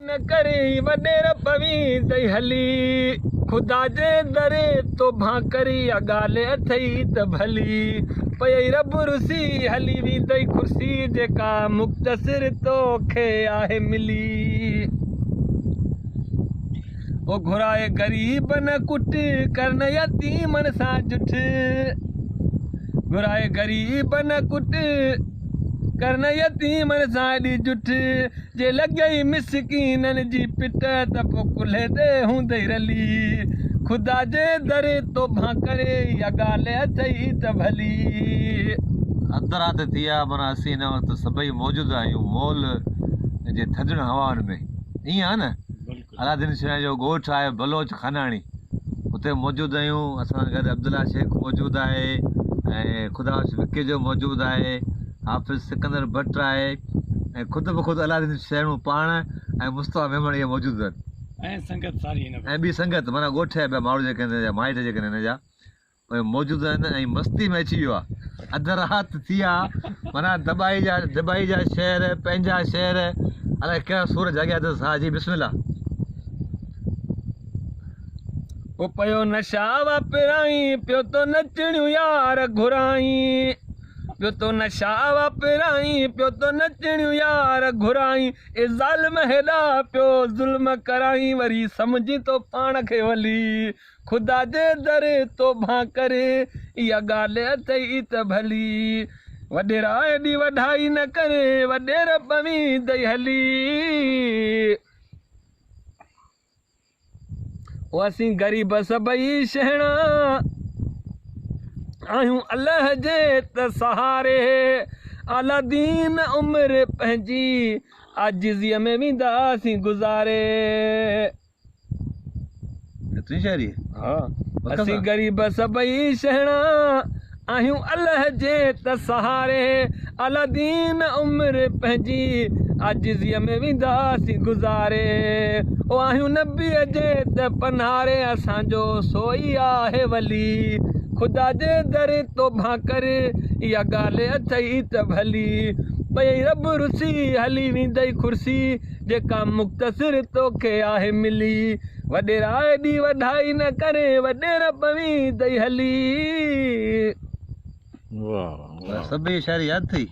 نه ڪري وڏير پوين تئي هلي خدا جي در توبان ڪري اها ڳالهه اٿئي ته ڀلي پيئي رب رسي هلي ويندئي ڪرسي جيڪا مختصر توکي آهي ملي او گهرائي غريبن ڪٽ ڪرن يتيمن سان جٺ گهرائي غريبن ڪٽ ڪرن يتيمن سان ڏي جٺ جي لڳئي مسڪينن جي پٽ ته پو ڪلهي تي هوندئي رلي خدا جي در توبهان ڪري اها ڳالهه اٿئي ته ڀلي. اڌ رات ٿي آ معنيٰ اسين هن وقت سڀئي موجود آهيون مول جي ٿڌڙن هوائن ۾ ائين آ نه علادين شينهن جو ڳوٺ آهي بلوچ خاناڻي اتي موجود آهيون اسان سان گڏ عبدالله شيخ موجود آهي ۽ خدا بخش وڪيجو موجود آهي حافظ سڪندر بٽ آهي ۽ خود به خود علادين شينهن پاڻ ۽ مصطفيٰ ميمڻ اهي موجود آهن ۽ سنگت ساري هن ۽ ٻي سنگت معنيٰ ڳوٺ جا ٻيا ماڻهو جيڪي هن جا مائٽ جيڪي هن جا پوء موجود آهن ۽ مستي ۾ اچي ويو آ اڌ رات ٿي آ معنيٰ دٻائي جا دٻائي جا شعر پنهنجا شعر الائي ڪهڙا سور جاڳيا اٿس ساهه جي بسم الله او پيو نشا واپرائين پيو تو نچڻيون يار گهرائين پيو تو نشا واپرائين پيو تو نچڻيون يار گهرائين اي ظالم هيڏا پيو ظلم ڪرائين وري سمجهين تو پاڻ کي ولي خدا جي در توبه ڪر اها ڳالهه اٿئي ته ڀلي وڏيرا ايڏي وڍائي نه ڪر وڏير پويندئي هلي او اسين غريب سڀئي شهڻا آهيون الله جي ته سهاري اعليٰ دين عمر پنهنجي عاجزي ۾ وينداسين گذاري ايتري شاعري ها اسين غريب سڀئي شهڻا آهيون الله جي ته سهاري الادين عمر پنهنجي عاجزي ۾ وينداسين گذاري او آهيون نبي جي ته پنهاري اسان جو سوئي آهي ولي خدا جي در توبان ڪر اها ڳالهه اٿئي ته ڀلي پئي رب رسي هلي ويندئي خرسي جيڪا مختصر توکي آهي ملي. وڏيرا ايڏي وڌائي نه ڪرين وڏير پوين تئي هلي. واهه واهه واهه. سڀيئي شاعري ياد ٿئي.